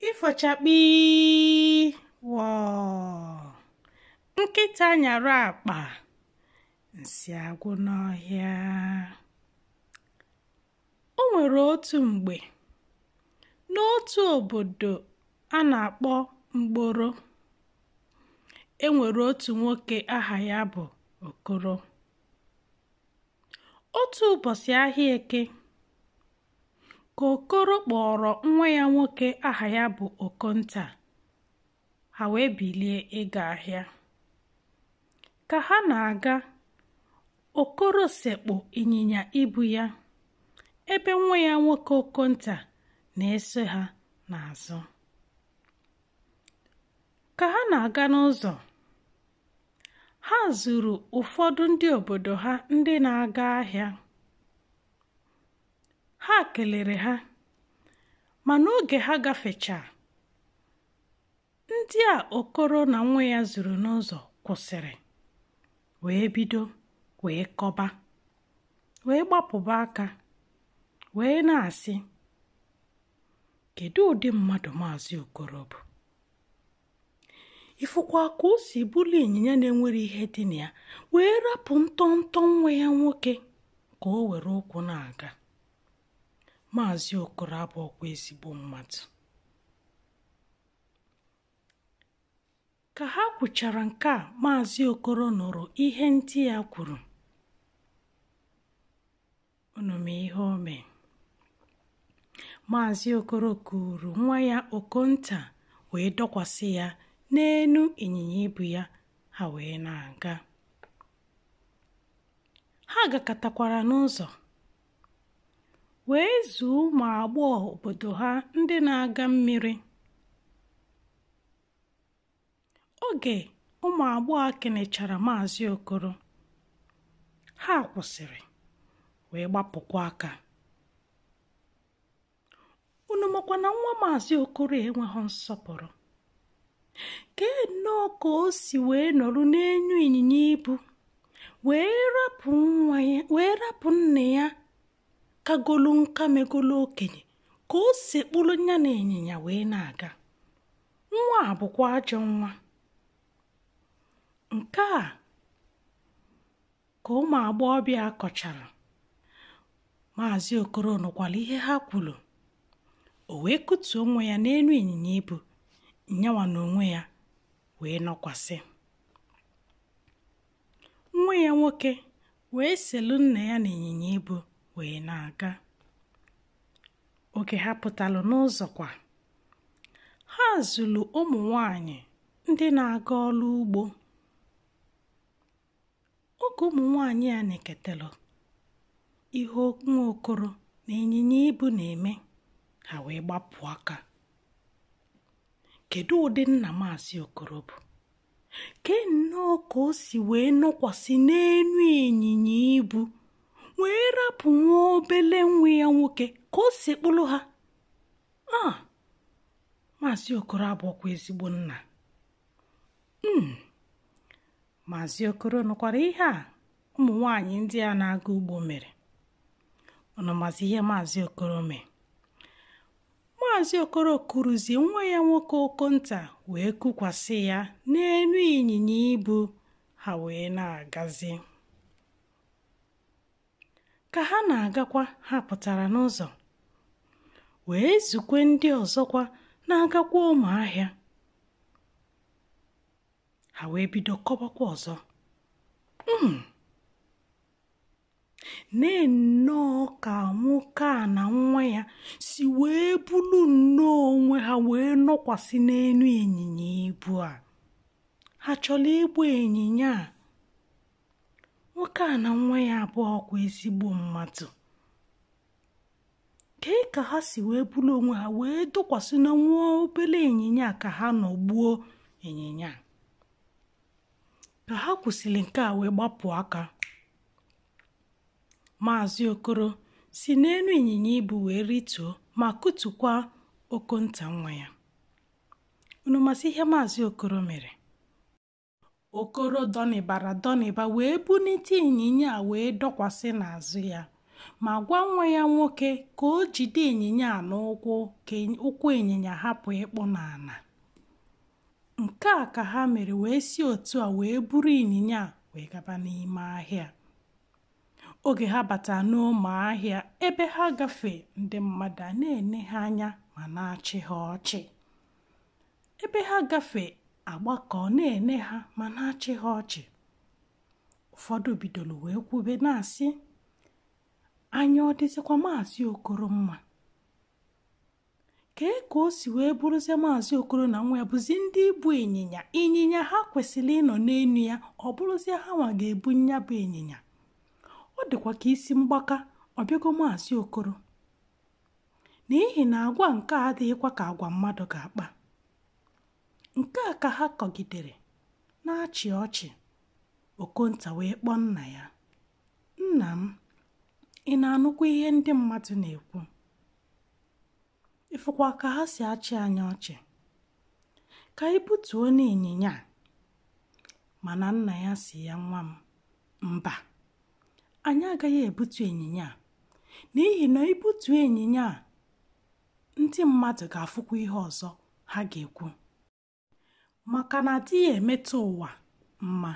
ifo chakpii wọ nkịta nyara akpa nsị agwụ n'ọhịa o nwere otu mgbe n'otu obodo a na-akpọ mgboro e nwere otu nwoke aha ya bụ okoro otu ụbọchị ahịa eke ka okoro kpọrọ nwa ya nwoke aha ya bụ okonta ha wee bilie ịga ahịa ka ha na-aga okoro sekpụ ịnyịnya ibu ya ebe nwa ya nwoke okonta na-eso ha n'azụ ka ha na-aga n'ụzọ ha zuru ụfọdụ ndị obodo ha ndị na-aga ahịa ha kelere ha ma n'oge ha gafechaa ndị a okoro na nwa ya zuru n'ụzọ kwụsịrị wee bido wee kọba wee gbapụba aka wee na-asị kedu ụdị mmadụ maazị okoro bụ ị fụkwa ka o si buru ịnyịnya na-enwere ihe dị na ya wee rapụ ntọntọ nwa ya nwoke ka o were ụkwụ na-aga maazị okoro abụọkwa ezigbo mmadụ ka ha kwuchara nke a maazị okoro nụrụ ihe ndị a kwuru unu ma ihe o mee maazị okoro kuru nwa ya okonta wee dọkwasị ya n'elu ịnyịnya ibu ya ha wee na-aga ha gakatakwara n'ụzọ wee zuo ụmụ agbọghọ obodo ha ndị na-aga mmiri oge ụmụ agbọghọ kenechara maazị okoro ha kwụsịrị wee gbapụkwa aka unu makwa na nwa maazị okoro enweghị nsọpụrụ kee nnọọ ka o si wee nọrọ n'enu ịnyịnya ibu wee rapụ nna ya kagolu nka megolu okenye ka o sekpụrụ ya na ịnyịnya wee na-aga nwa a bụkwa ajọ nwa nke a ka ụmụ agbọghọbịa kọchara maazị okoro nụkwara ihe ha kwuru o wee kutuo nwa ya n'elu ịnyịnya ibu nyanwa na onwe ya wee nọkwasị nwa ya nwoke wee selu nna ya na ịnyịnya ibu wee na-aga oge ha pụtalụ n'ụzọ kwa ha zulu ụmụ nwanyị ndị na-aga ọrụ ugbo oge ụmụ nwanyị a nekatara ihe nwa okoro na ịnyịnya ibu na-eme ha wee gbapụ aka kedu ụdị nna maazị okoro bụ kee nnọọ ka o si wee nọkwasị n'elu ịnyịnya ibu wee rapụ nwa obele nwa ya nwoke ka o sekpụrụ ha a ah, maazị okoro abụọkwa ezigbo nna hmm. maazị okoro nụkwara ihe a ụmụ nwanyị ndị a na-aga ugbo mere unu mazi ihe maazị okoro mee maazị okoro kuruzie nwa ya nwoke okonta wee kukwasị ya n'elu ịnyịnya ibu ha wee na-agazi ka ha na-agakwa ha pụtara n'ụzọ wee zukwe ndị ọzọkwa na-agakwa ụmụ ahịa ha wee bido kọbakwa ọzọ hmm. nee nnọọ ka nwoke a na nwa ya si wee bulu nnọọ onwe ha wee nọkwasị n'elu ịnyịnya ibu a ha chọrọ igbu ịnyịnya a nwoke a na nwa ya abụọkwa ezigbo mmadụ kee ka ha si wee bulu onwe ha wee dọkwasị na nwa obele ịnyịnya ka ha nọgbuo ịnyịnya ka ha kwusịrị nke a wee gbapụ aka maazị okoro si n'elu ịnyịnya ibu wee rituo ma kutukwa okonta nwa ya unu mazi ihe maazị okoro mere okoro dọnịbara dọnịba wee bunite ịnyịnya a wee dọkwasị n'azụ ya ma gwa nwa ya nwoke ka o jide ịnyịnya a n'ụkwụ ka ụkwụ ịnyịnya hapụ ịkpụ n'ala nke a ka ha mere wee si otu a wee buru ịnyịnya wee gaba n'ime ahịa oge ha bata n'ọma ahịa ebe ha gafee ndị mmadụ a na-ene ha anya ma na-achị ha ọchị ebe ha gafee a gbakọọ na-ene ha ma na-achị ha ọchị ụfọdụ bidoro wee kwube na-asị anya ọ dịzịkwa maazị okoro mma kee ka o si wee bụrụzie maazị okoro na nwa ya bụzi ndị ibu ịnyịnya ịnyịnya ha kwesịrị ịnọ n'enu ya ọ bụrụzie ha nwa ga-ebu nya bụ ịnyịnya ọ dịkwa ka isi mgbaka ọ bịago maazị okoro n'ihi na agwa nke a adịghịkwa ka agwa mmadụ ga-akpa nke a ka ha kọgidere na-achị ọchị okonta wee kpọọ nna ya nna m ị na-anụkwa ihe ndị mmadụ na-ekwu ị fụkwa ka ha si achị anyị ọchị ka anyị butuonụ ịnyịnya a mana nna ya sị ya nwa m mba anyị agaghị ebutu ịnyịnya n'ihi na i butuo ịnyịnya a ndị mmadụ ga-afụkwa ihe ọzọ ha ga-ekwu maka na a dịghị emeta ụwa mma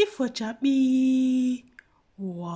ifo chakpii wọọ